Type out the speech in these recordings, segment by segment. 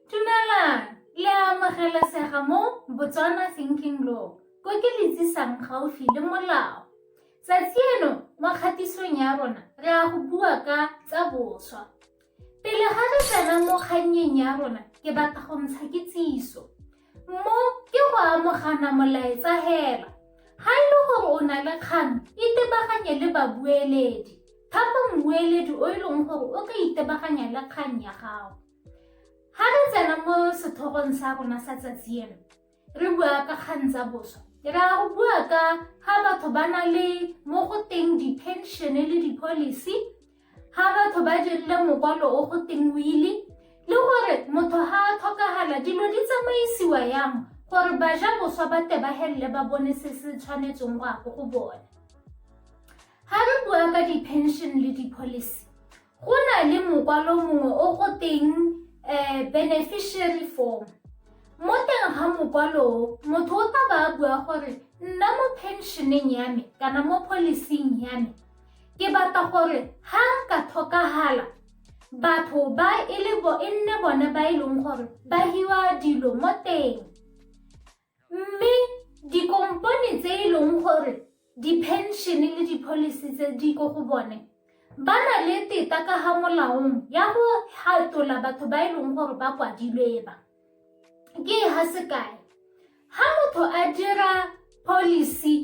Dumelang, le a amogelesega mo Botswana Thinking Law, ko ke le tsisang gaufi le molao. Tsatsi eno mo kgatisong ya rona re a go bua ka tsa boswa. Pele ga re tsena mo kgannyeng ya rona, ke batla go ntsha kitsiso. Mo ke go amogana molaetsa hela. Ga e le gore o na le kgang, itebaganye le babueledi. Thapa mmueledi o e leng gore o ka itebaganya le kgang ya gago. Ga re tsena mo setlhogong sa rona sa tsatsi eno, re bua ka kgang tsa boswa. Re a go bua ka ga batho ba na le mo go teng di-pension-e le di-policy, Ga batho ba dirile mokwalo o go teng wili le gore motho ga a tlhokagala dilo di tsamaisiwa yang gore baja boswa ba tebagelele ba bone se se tshwanetseng go ago go bone ga re bua ka di-pension le di-policy go na le mokwalo mongwe o go teng um beneficiary form mo teng ga mokwalo motho o tla ba a bua gore nna mo pensioneng ya me kana mo policing ya me ke batla gore ha nka tlhokagala batho ba e le bo e nne bone ba e leng gore ba hiwa dilo mo teng mme dikompone tse e leng gore di-pension-e le di-policy tse di ko go bone ba na le teta ka ga molaong ya go hatola batho ba e leng gore ba kwadilwe ba ke ha sekae ha motho a dira policy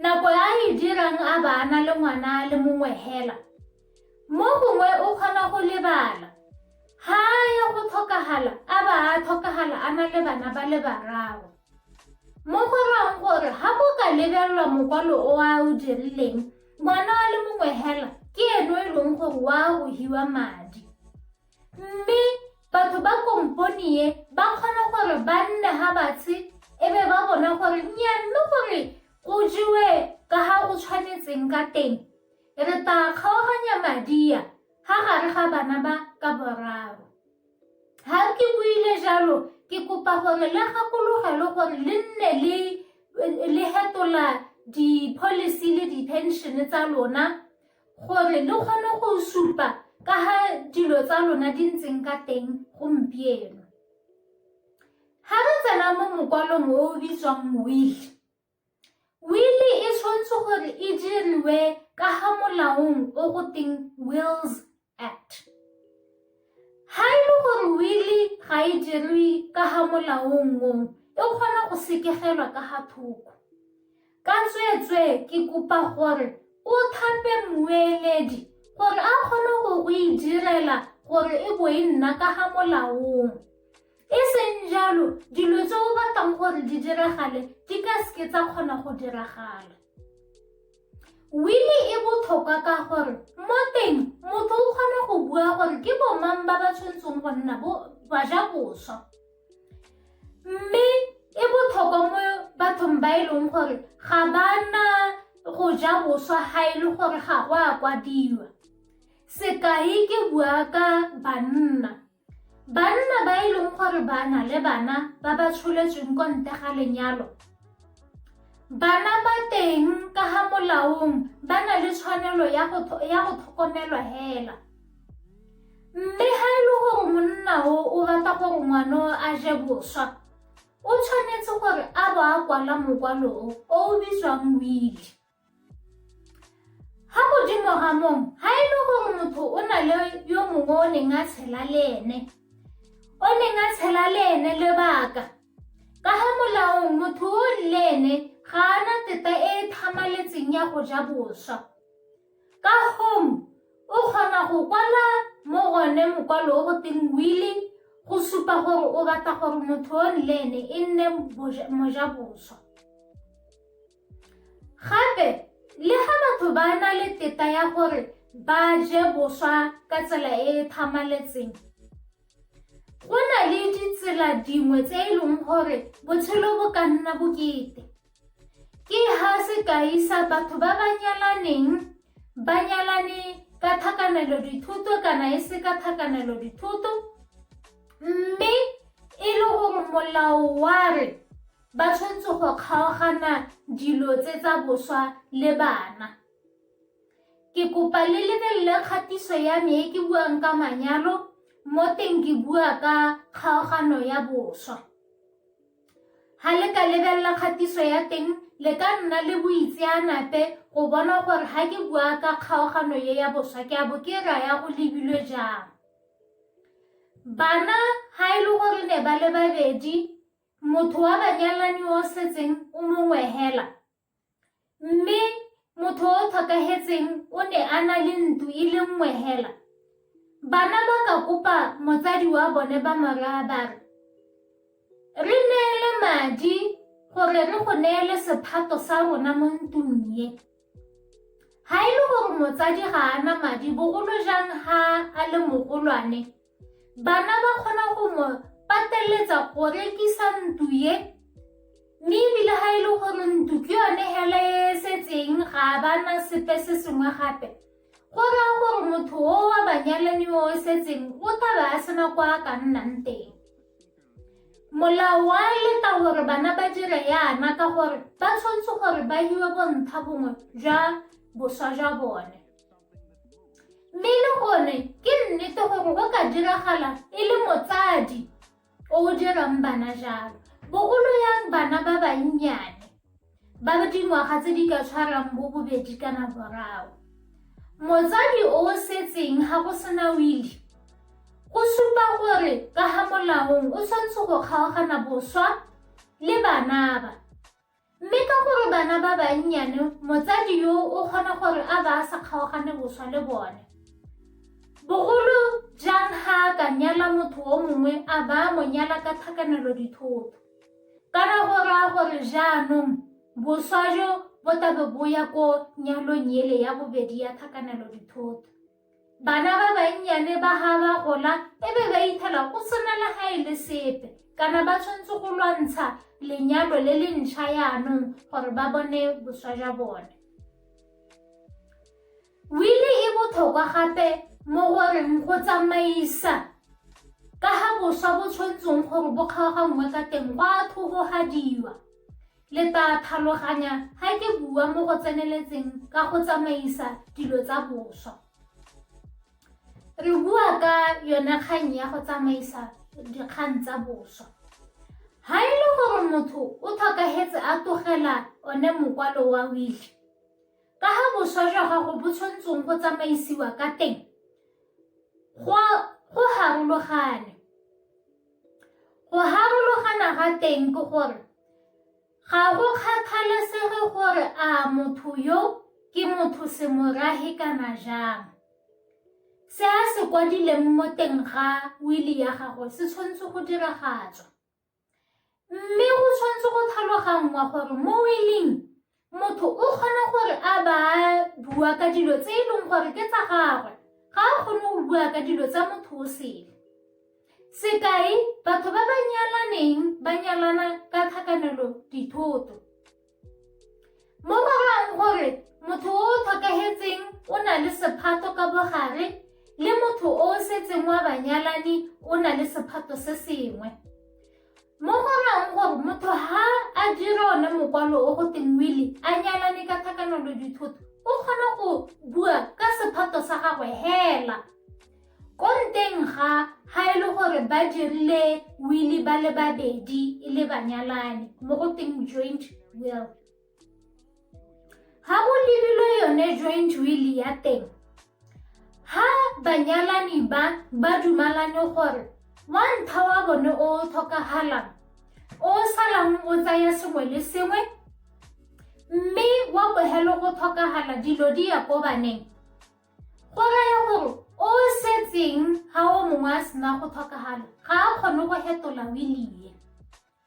nako ya e dirang a bana le ngwana le mongwe hela mo gongwe o kgona go lebala ha ya go tlhokagala a ba a tlhokagala a na le bana ba le bararo mo go rang gore ga go ka lebelelwa mokwalo o a o dirileng ngwana wa le mongwe hela ke eno e leng gore wa go hiwa madi Mme batho ba komponi e ba kgona gore ba nne ga batshe e be ba bona gore nya mme gore go jewe ka ga go tshwanetseng ka teng re tla kgaoganya madia ga gare ga bana ba ka boraro ga ke buile jalo ke kopa gore le gakologelwe gore le nne le le hetola di-policy le di-pension tsa lona gore le kgone go supa ka ga dilo tsa lona di ntseng ka teng gompieno ga re tsena mo mokwalong o o bitswang wili wili e tshwanetse gore e diriwe ka ga molaong o go teng wills Act. Ga e le gore wili ga e dirwe ka ga molaong o e kgona go sekegelwa ka ga thoko ka tsweetswee ke kopa gore o thape mmueledi gore a kgone go e direla gore e bo e nna ka ga molaong E seng jalo, dilo tse o batlang gore di diragale di ka seke tsa kgona go diragala. Wili e botlhokwa ka gore mo teng motho o kgona go bua gore ke bomang ba ba tshwanetseng go nna ba ja boswa. Mme e botlhokwa mo bathong ba e leng gore ga ba na go ja boswa ga e le gore ga go a kwadiwa. Sekai ke bua ka banna. Banna ba e leng gore ba na le bana ba ba tsholetsweng kwa ntle ga lenyalo bana ba teng ka ga molaong ba na le tshwanelo ya go tlhokomelwa hela mme ga e le gore monna o o batla gore ngwana a je boswa o tshwanetse gore a bo a kwala mokwalo o o bitswang wili Ga godimo ga moo, ga e le gore motho o na le yo mongwe o neng a tshela le ene, o neng a tshela le ene lebaka, ka ga molaong motho o le ene ga a na teta e e thamaletseng ya go ja boswa. Ka gong o kgona go kwala mo gone mokwalo o go teng wili go supa gore o batla gore motho o le ene e nne mojaboswa. Gape, le ga batho ba na le teta ya gore ba je boswa ka tsela e e thamaletseng, go na le ditsela dingwe tse e leng gore botshelo bo ka nna bokete. Ke ha sekai sa batho ba ba nyalaneng ba nyalane ka tlhakanelo dithuto kana e se ka tlhakanelo dithuto mme e le gore molao wa re Ba tshwanetse go kgaogana dilo tse tsa boswa le bana. Ke kopa le lebelele kgatiso ya me e ke buang ka manyalo mo teng ke bua ka kgaogano ya boswa. Ga le ka lebelela kgatiso ya teng le ka nna le boitseanape go bona gore ga ke bua ka kgaogano ye ya boswa ke a bo ke raya go lebilwe jang. Bana ga e le gore ne ba le babedi motho wa banyalani o setseng o mongwe hela mme motho o tlhokagetseng o ne a na le ntlo e le nngwe hela bana ba ka kopa motsadi wa bone ba moraa ba re re neele madi gore re go neele sephato sa rona mo ntlong ye ga e le gore motsadi ga a na madi bogolo jang ga a le mogolwane Bana ba kgona go mo pateletsa go rekisa ntlo ye mme ebile ga e le gore ntlo ke yone hela e setseng ga ba na sepe se sengwe gape go raya gore motho o wa banyalani o o setseng o tlabe a sena kwa a ka nnang teng molao wa leta gore bana ba dire yana ka gore ba tshwanetse gore ba hiwe bontha bongwe jwa boswa jwa bone mme e le gone ke nnete gore go ka diragala e le motsadi o o dirang bana jalo bogolo yang bana ba bannyane ba dingwaga tse di ka tshwarang bo bobedi kana boraro motsadi o o setseng ga go sena wili go supa gore ka ga molaong o tshwanetse go kgaogana boswa le banaba Mme ka gore bana ba bannyane motsadi yo o kgona gore a ba a sa kgaogane boswa le bone, bogolo jang ga a ka nyala motho o mongwe a ba a mo nyala ka tlhakanelo dithoto. Kana go raya gore jaanong boswa jo bo tlabe bo ya ko nyalong ele ya bobedi ya tlhakanelo dithoto. Bana ba bannyane ba ga ba gola e be ba ithela go sena le ga e le sepe kana ba tshwanetse go lwantsha lenyalo le le ntšha yaanong gore ba bone boswa jwa bone. Wili e botlhokwa gape mo goreng go tsamaisa ka ga boswa bo tshwanetseng gore bo kgaoganngwe ka teng go a thogogadiwa. Le tlaa tlhaloganya ga ke bua mo go tseneletseng ka go tsamaisa dilo tsa boswa. Re bua ka yone kgang ya go tsamaisa dikgang tsa boswa. Ga e le gore motho o tlhokagetse a togela one mokwalo wa wile, ka ga boswa jwa gago bo tshwantseng go tsamaisiwa ka teng, go harologane. Go harologana ga teng ke gore ga go kgathalesege gore a motho yo ke motho semorahe kana jang. Se a se kwadileng mo teng ga wili ya gagwe se tshwanetse go diragatswa. Mme go tshwanetse go tlhaloganngwa gore mo wiling Motho o kgona gore a ba bua ka dilo tse e leng gore ke tsa gagwe, ga a kgone go bua ka dilo tsa motho o sele. Sekai, batho ba ba nyalaneng ba nyalana ka tlhakanelo dithoto. Mo ba rang gore motho o o tlhokagetseng o na le sephato ka bogare le motho o o setseng wa banyalani o na le sephato se sengwe. Mo go rayang gore motho ha a dire one mokwalo o go teng wili a nyalane ka thakanelo dithoto o kgona go bua ka sephato sa gagwe hela ko nteng ga ga e le gore ba dirile wili ba le babedi e le banyalane mo go teng joint will ga go lebilwe yone joint will ya teng ha banyalani ba ba dumalane gore wa ntha wa bone o tlhokagalang o salang o tsaya sengwe le sengwe mme wa bogelo go tlhokagala dilo di ya ko baneng go raya gore o setseng ga o mongwe a sena go tlhokagala ga a kgone go fetola wilie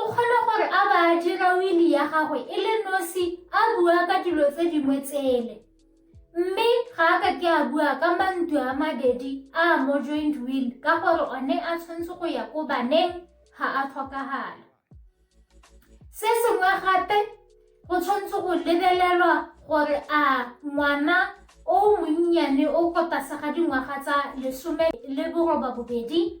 O kgona gore a ba a dira wili ya gagwe e le nosi a bua ka dilo tse dingwe tsele. Mme ga a ka ke a bua ka mantu a mabedi a a mo joint will ka gore one a tshwanetse go ya ko baneng ga a tlhokagala. Se sengwe gape go tshwanetse go lebelelwa gore a ngwana o monnyane o ko tlase ga dingwaga tsa lesome le boroba bobedi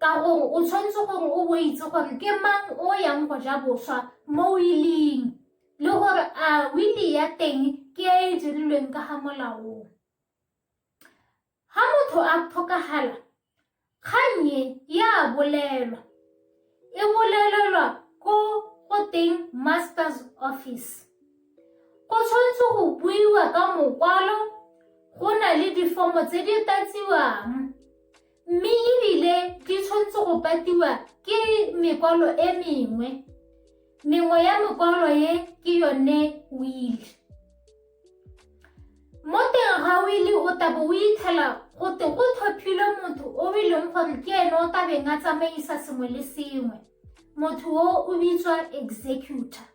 Ka gore o tshwanetse gore o bo itse gore ke mang o yang go ja boswa mo willing le gore a wili ya teng ke e e dirilweng ka ga molaong ga motho a tlhokagala kgannye ya bolelwa e bolelelwa ko go teng master's office go tshwanetse go buiwa ka mokwalo go na le difomo tse di tatsiwang mme ebile di tshwanetse go patiwa ke mekwalo e mengwe mengwe ya mekwalo e ke yone wili mo teng ga wili o tabo o itshela go te go tlhophilwe motho o e leng gore ke ene o tabeng a tsamaisa sengwe le sengwe motho o o bitswa executor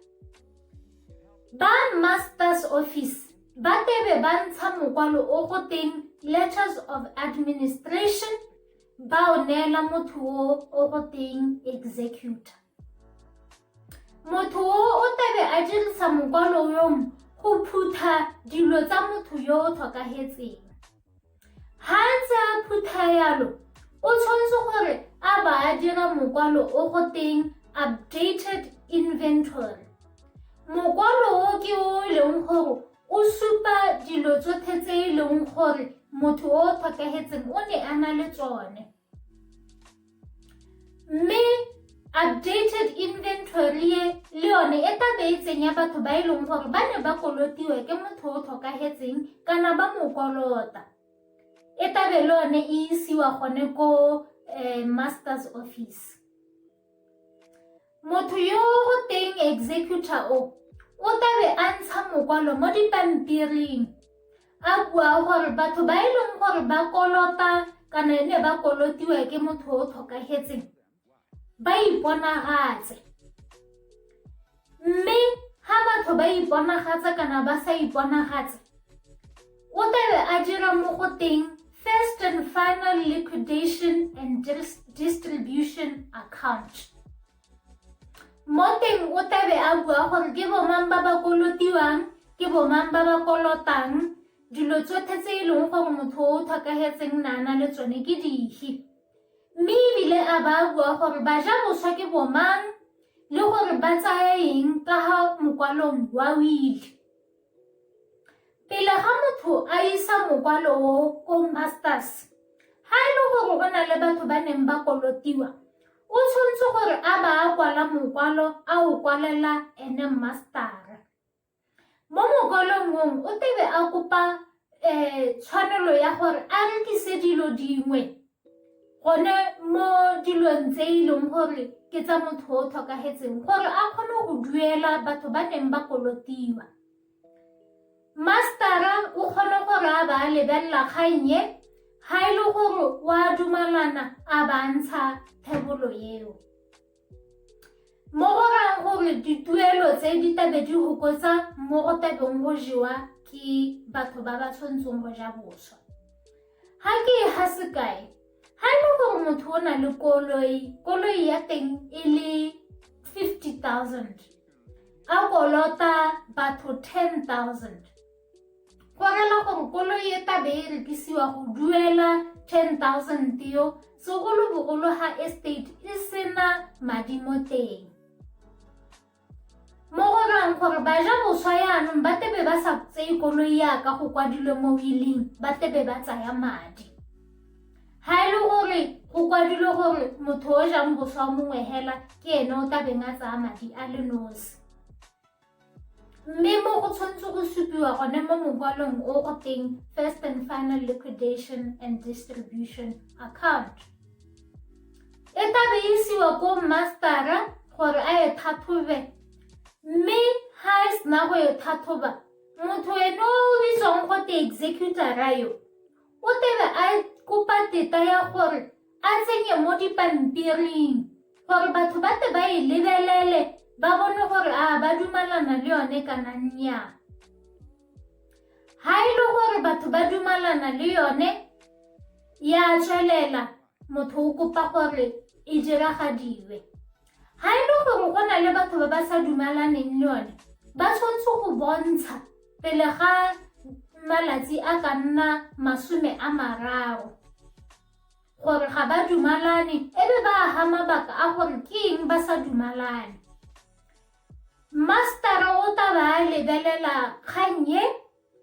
ba masters office ba tlebe ba ntsha mokwalo o go teng letters of administration ba o neela motho o o go teng executor motho o o tebe a dirisa mokwalo yo go phutha dilo tsa motho yo o tlhokagetseng Ha a ntse a phutha yalo, o tshwanetse gore a ba a dira mokwalo o go teng updated inventory. Mokwalo o ke o e leng gore o supa dilo tsotlhe tse e leng gore motho o tlhokagetseng o ne a na le tsone. mme updated inventory e le yone e tla beetseng ya batho ba e leng gore ba ne ba kolotiwe ke motho o tlhokagetseng kana ba mo kolota e tabe le yone e isiwa gone ko um master's office motho yo go teng executor o o tabe a ntsha mokwalo mo dipampiring a bua gore batho ba e leng gore ba kolota kana e ne ba kolotiwa ke motho o tlhokagetseng ba iponagatse Mme ha batho ba iponagatsa kana ba sa iponagatse, o tlabe a dira mo go teng first and final liquidation and distribution account. Mo teng o tlabe a bua gore ke bomang ba ba kolotiwang, ke bomang ba ba kolotang, dilo tsotlhe tse e leng gore motho o tlhokagetseng na na le tsone ke dife. Mme ebile a ba a bua gore ba ja boswa ke bomang le gore ba tsaya eng ka ga mokwalong wa wile. Pele ga motho a isa mokwalo o ko masters, ga e le gore o na le batho ba neng ba kolotiwa, o tshwanetse gore a ba a kwala mokwalo a o kwalela ene mastara. Mo mokwalong mong o tebe a kopa um tshwanelo ya gore a rekise dilo dingwe gone mo dilong tse e leng gore ke tsa motho o tlhokagetseng gore a kgone go duela batho ba neng ba kolotiwa mastera o kgone gore a ba lebelela kgannye ga e le gore wa dumalana a ba ntsha thebolo eo Mo go raya gore dituelo tse di tabe di gokotsa mo go tabeng go jewa ke batho ba ba tshwantseng go ja boswa ga ke e ga sekae ga e le gore motho o na le koloi koloi ya teng e le 50 000 a kolota batho 10 000 go rela gore koloi e tabe e rekisiwa go duela 10000 teo segolobogolo ga estate e sena madi mo teng mo go rang gore ba ja boswa yaanong ba tebe ba sa tseye koloi yaka go kwadilwe mo willing ba tebe ba tsaya madi ga e le gore go kwadilwe gore motho o jang boswa mongwe hela ke ene o tabeng a tsaya madi a le nosi mme mo go tshwanetse go supiwa gone mo mokwalong o o teng first and final liquidation and distribution account e tla be e isiwa ko mastera gore a e thathobe mme ga e sena go e thathoba motho ene o bitswang go te executora yo o tebe a kopa teta ya gore a tsenye mo dipampiring gore batho ba te ba e lebelele ba bone gore a ba dumalana le yone kana nnyaa ha e le gore batho ba dumalana le yone ya tswelela motho o kopa gore e diragadiwe ha e le gore go na le batho ba ba sa dumalaneng le yone ba tshwanetse go bontsha pele ga malatsi a ka nna masome a mararo gore ga ba dumalane e be ba aga mabaka a gore ke eng ba sa dumalane mastara o ta ba a lebelela kgang e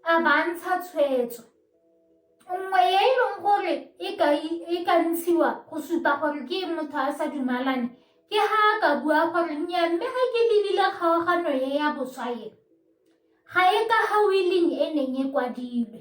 a bantsha tshwetso nngwe e e leng gore e ka e ntshiwa go supa gore ke motho a sa dumalane ke ha a ka bua gore nya mme ga ke lebile kgaogano e ya boswa e ga e ka hawileng e neng e kwadilwe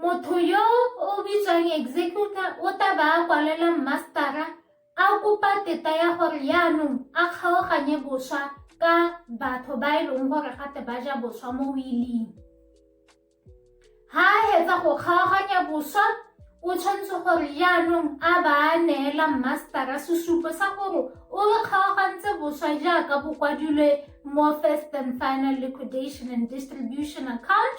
motho yo o bitswang executor o tla ba a kwalela mastera a kopa teta ya gore yaanong a kgaoganye boswa ka batho ba e leng gore gate ba ja boswa mo wiling ha a hetsa go kgaoganya boswa o tshwanetse gore yaanong a ba a neela mastera sesupo sa gore o kgaogantse boswa jaaka bo kwadilwe more first and final liquidation and distribution account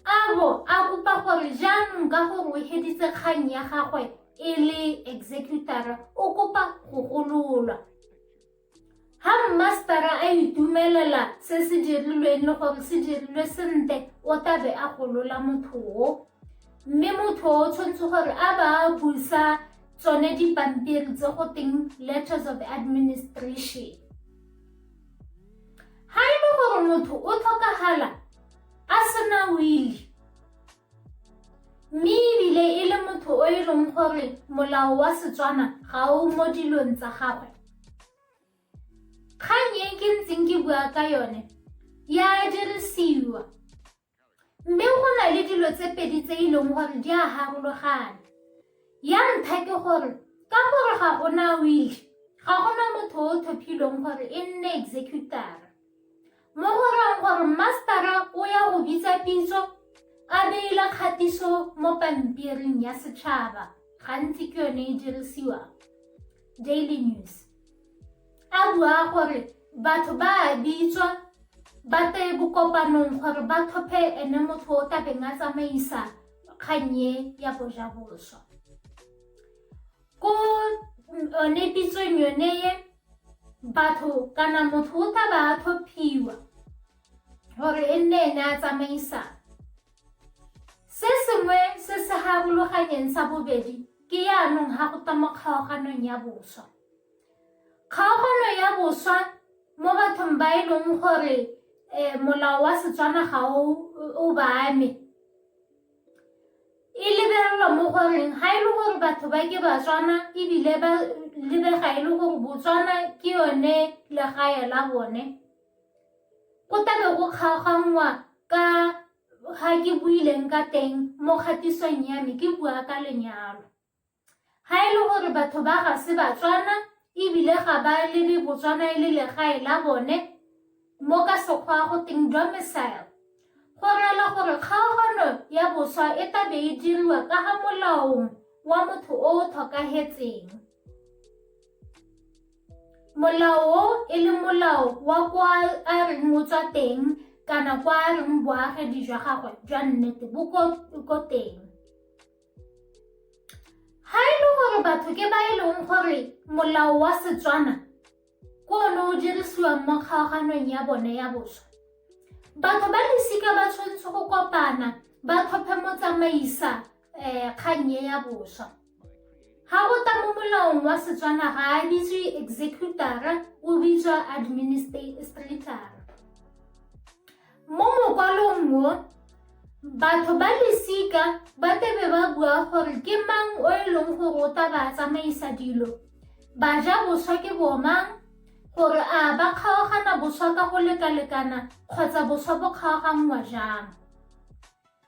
a bo a kopa gore jaanong ka gore o heditse kgang ya gagwe e le executara o kopa go gololwa ha mmastara a itumelela se se dirilweng le gore se dirilwe sentle o tabe a golola motho o mme motho o tshwanetse gore a ba a busa tsone dipampiri tse go teng letters of administration ga e le gore motho o tlhokagala a sena wili mme ebile e le motho o e leng gore molao wa setswana ga o mo dilong tsa gagwe kgang e ke ntseng ke bua ka yone ya dirisiwa Mme go na le dilo tse pedi tse e leng gore di a harologana. Ya ntlha ke gore ka gore ga gona will, ga gona motho o tlhophilweng gore e nne executor. Mo go rang gore mastera o ya go bitsa pitso a beile kgatiso mo pampiring ya setšhaba gantsi ke yone e dirisiwang daily news A bua gore batho ba a bitswa ba te bokopanong gore ba tlhophe ene motho o tla beng a tsamaisa kgannye ya bojaboswa ko one pitsong yone ye batho kana motho o tla ba a tlhophiwa gore e nne ene a tsamaisang se sengwe se se harologanyeng sa bobedi ke yaanong ga go twa mo kgaoganong ya boswa kgaogano ya boswa mo bathong ba e leng gore um molao wa setswana ga o ba ame e lebelelwa mo goreng ga e le gore batho ba ke batswana ebile ba lebega e le gore botswana ke yone legae la bone go tabe go kgaoganngwa ka ga ke buileng ka teng mo kgatisong ya me ke bua ka lenyalo ga e le gore batho ba ga se batswana ebile ga ba lebe botswana e le legae la bone mo ka sekgwa go teng domicile go rela gore kgaogano ya boswa e tabe e diriwa ka ga molaong wa motho o o tlhokagetseng Molao o e le molao wa kwa a reng motswa teng kana kwa a reng boagedi jwa gagwe jwa nnete bo ko teng ga e le gore batho ke ba e leng gore molao wa setswana ko one o dirisiwang mo kgaoganong ya bone ya boswa batho ba losika ba tshwanetse go kopana ba tlhophe motsamaisa um kgang e ya boswa ga go ta mo molaong wa setswana ga a bitswe executara o bitswa administratara mo mokwalong mo batho ba lesika ba tebe ba bua gore ke mang o e leng gore o ta ba tsamaisa dilo ba ja boswa ke bomang gore a ba kgaogana boswa ka go lekalekana kgotsa boswa bo kgaoganngwa jang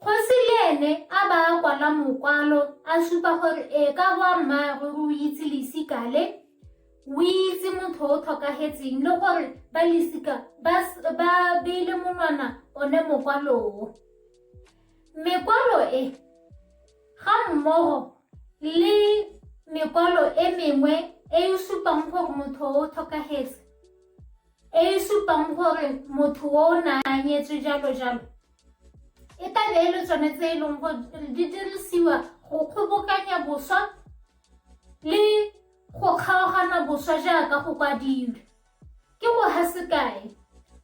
Kgosi le ene a ba a kwala mokwalo a supa gore e ka boa mmaagwe o itse lesika le o itse motho o tlhokagetseng le gore ba lesika ba beile monwana one mokwaloo mekwalo e ga mmogo le mekwalo e mengwe e e supang gore motho o tlhokagetse e e supang gore motho o o naanyetswe jalo jalo e tla be e le tsone tse e leng gore di dirisiwa go kgobokanya boswa le go kgaogana boswa jaaka go kwadilwe ke go ha sekae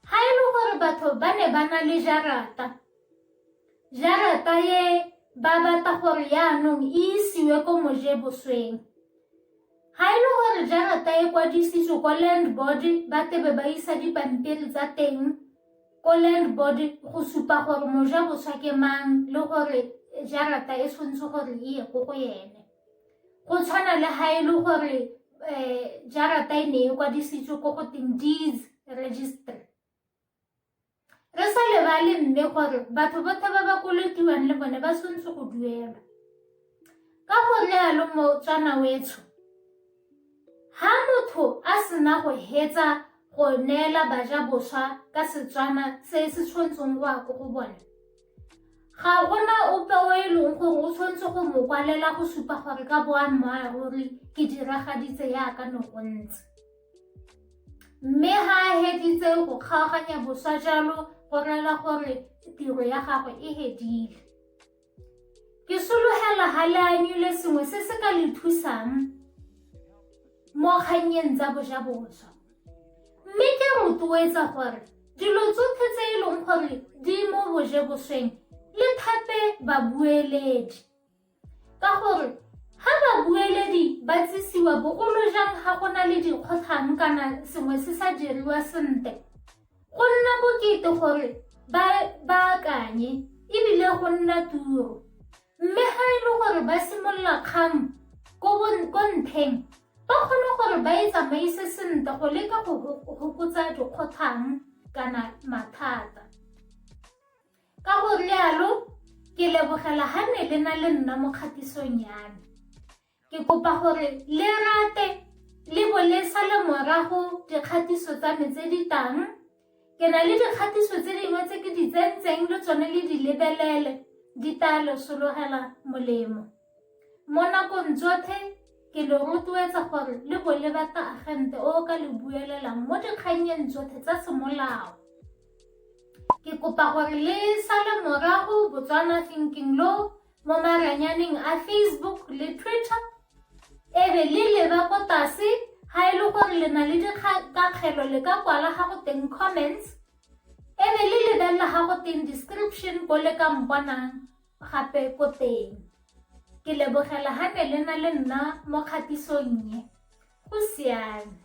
ga e le gore batho ba ne ba na le jarata jarata e ba batla gore yaanong e isiwe ko moje bosweng ga e le gore jarata e kwadisitswe ko land board ba tebe ba isa dipampiri tsa teng Ko land board go supa gore moja boswa ke mang le gore jarata e tshwanetse gore e ye ko go ene go tshwana le ga e le gore um jarata e ne e kwadisitswe ko go teng deeds registry re sa lebale mme gore batho bothe ba ba kolotiwang le bone ba tshwanetse go duelwa ka go realo motswana wetsho Ha motho a sena go hetsa go neela baja boswa ka Setswana se se tshwantsong wa ko go bone, ga gona ope o e leng gore o tshwanetse go mo kwalela go supa gore ka boammaaruri ke diragaditse yaka ne go ntse. Mme ha a heditse go kgaoganya boswa jalo go rela gore tiro ya gagwe e hedile. Ke sologela ga le anyule sengwe se se ka le thusang mo kgannyeng tsa bojaboswa. Mme ke rotloetsa gore dilo tsotlhe tse e leng gore di mo bojebosweng le thape babueledi. Ka gore ga babueledi ba tsisiwa bogolo jang ga go na le dikgotlhang kana sengwe se sa diriwa sentle, Go nna bokete gore ba ba akanye e bile go nna turo. Mme ga e le gore ba simolola kgang ko ko ntheng, ba kgone gore ba e tsamaise sentle go leka go fokotsa dikgotlhang kana mathata. Ka go rialo ke lebogela ga ne le na le nna mo kgatisong ya me. Ke kopa gore le rate le bo le sale morago dikgatiso tsa me tse di tang. Ke na le dikgatiso tse dingwe tse ke di tsentseng le tsone le di lebelele di tla lo sologela molemo. Mo nakong tsotlhe ke lo rotloetsa gore le bo le bata agente o ka le buelelang mo dikgannyeng tsotlhe tsa semolao. Ke kopa gore le sale morago Botswana Thinking Law mo maranyaneng a Facebook le Twitter e be le leba ko tlase ga e le gore le na le dikakgelo le ka kwala ga go teng comments e be le lebelela ga go teng description ko le ka mponang gape ko teng ke lebogela ga ne le na le nna mo kgatisong ye go siame